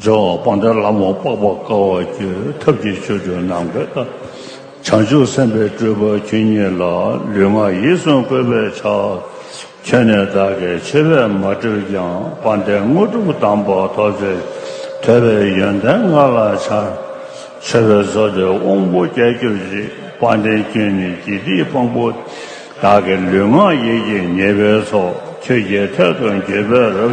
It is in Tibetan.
སྦྱོར་བ་སྤང་བྱ་ལམ་བ་དཔག་པར་དཀའ་བ་བརྒྱུད་ཐབས་ཀྱི་ཆོས་སྒྲོས་སྣང་བས་ལྟ། བྱང་ཆུབ་སེམས་དཔའི་སྤྲུལ་པ་ཁྱོད་ཉིད་ལ་ལུས་ངག་ཡིད་གསུམ་བཀོད་པའི་ཕྱག། ཁྱོད་ནི་བདག་གི་ཆེ་བས་མ་བསྒྲིབས་ཀྱང་དཔའ་འདས་དངོས་གྲུབ་གདམས་པ་ཐོབ་ཚེ་ཐོས་པའི་ཡོན་ཏན་མངའ་ལ་འཆར། མཆོད་པའི་ཟོ་དེ་དབང་པོ་བརྒྱད་གྱུར་ཅིག་དཔའ་འདས་ཁྱོད་ནི་དགེ་སྡིག་དཔང་པོ། བདག་གི་ལུས་ངག་ཡིད་ཀྱི་ཉེས་པའི་ཚོགས་ཁྱོད་ཀྱི་ཐད་དུ་འགྱོད་པས་རབ།